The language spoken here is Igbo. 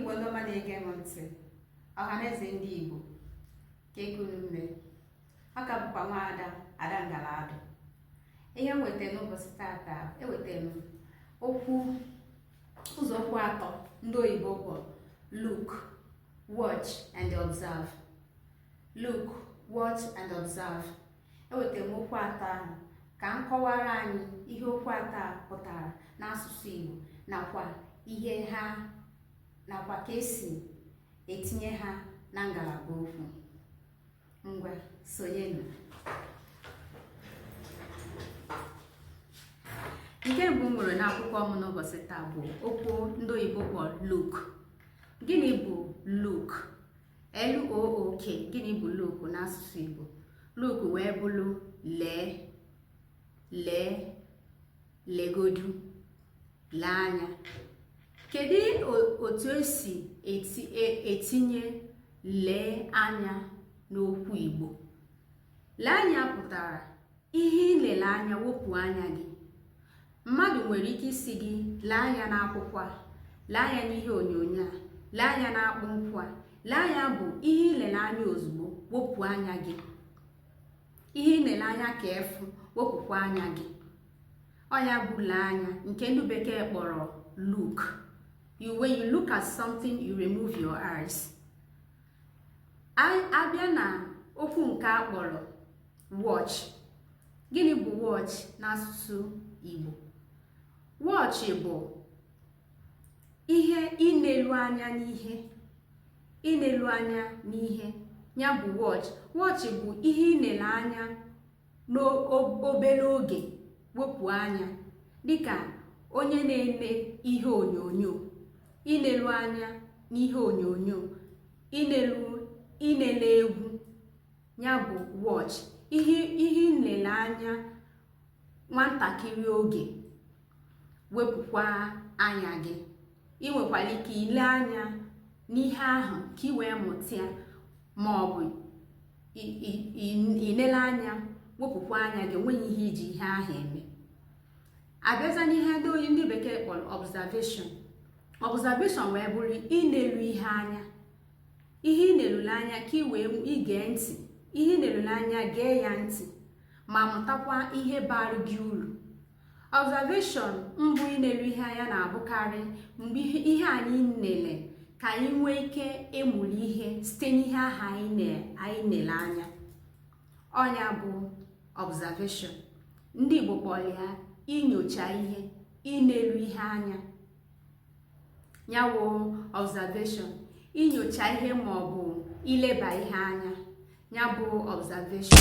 Igbo ndị ọma na-ege m ntị ọhaneze ndị Igbo kee ka unu mee ọ ka bụkwa nwaada Ada Ngala adụ ihe m weta n'ụbọchị tata eweta m okwu ụzọ okwu atọ ndị oyibo kpọrọ look watch and observe look watch and observe ewetara m okwu atọ ahụ ka m kọwara anyị ihe okwu atọ a pụtara n'asụsụ Igbo nakwa ihe ha nakwa ka esi etinye ha na ngalaba okwu ngwa sonyenụ nke mbụ m nwere n'akwụkwọ m n'ụbọchị taa bụ okwu ndị oyibo kpọrọ look gịnị bụ look LOOK gịnị bụ look n'asụsụ Igbo look wee bụrụ lee lee legodu lee anya kedu otu esi e, etinye lee anya n'okwu Igbo lee anya pụtara ihe i lele anya wepụ anya gị mmadụ nwere ike ịsị gị lee anya n'akwụkwọ a lee anya n'ihe onyonyo a lee anya n'akpụ nkwụ a lee anya bụ ihe i lele anya ozugbo wepụ anya gị ihe i lele anya ka efu wepụkwa anya gị ọ nya bụ lee anya nke ndị bekee kpọrọ look you when you look at something you remove your eyes a bịa na okwu nke a kpọrọ watch gịnị bụ watch n'asụsụ Igbo watch bụ ihe inelu anya n'ihe inelu anya n'ihe ya bụ watch watch bụ ihe i nele anya n'obere oge wepụ anya dịka onye na-eme ihe onyonyo inelu anya n'ihe onyonyo inelu inele egwu ya bụ watch ihe i nele anya nwantakịrị oge wepụkwa anya gị ị nwekwara ike ile anya n'ihe ahụ ka ị wee mụta ya ma ọ bụ inele anya wepụkwa anya gị enweghị ihe i ji ihe ahụ eme a bịaza n'ihe ndị oyi ndị bekee kpọrọ observation observation wee bụrụ inelu ihe anya ihe i nelulu anya ka ị wee ige ntị ihe i nelulu anya gee ya ntị ma mụtakwa ihe baara gị uru observation bụ inelu ihe anya na-abụkarị mgbe ihe anyị nele ka anyị nwee ike ịmụrụ ihe site n'ihe ahụ anyị na-ele anya ọ nya bụ observation ndị Igbo kpọrọ ya inyocha ihe inelu ihe anya ya wụ observation inyocha ihe ma ọ bụ ileba ihe anya ya bụ observation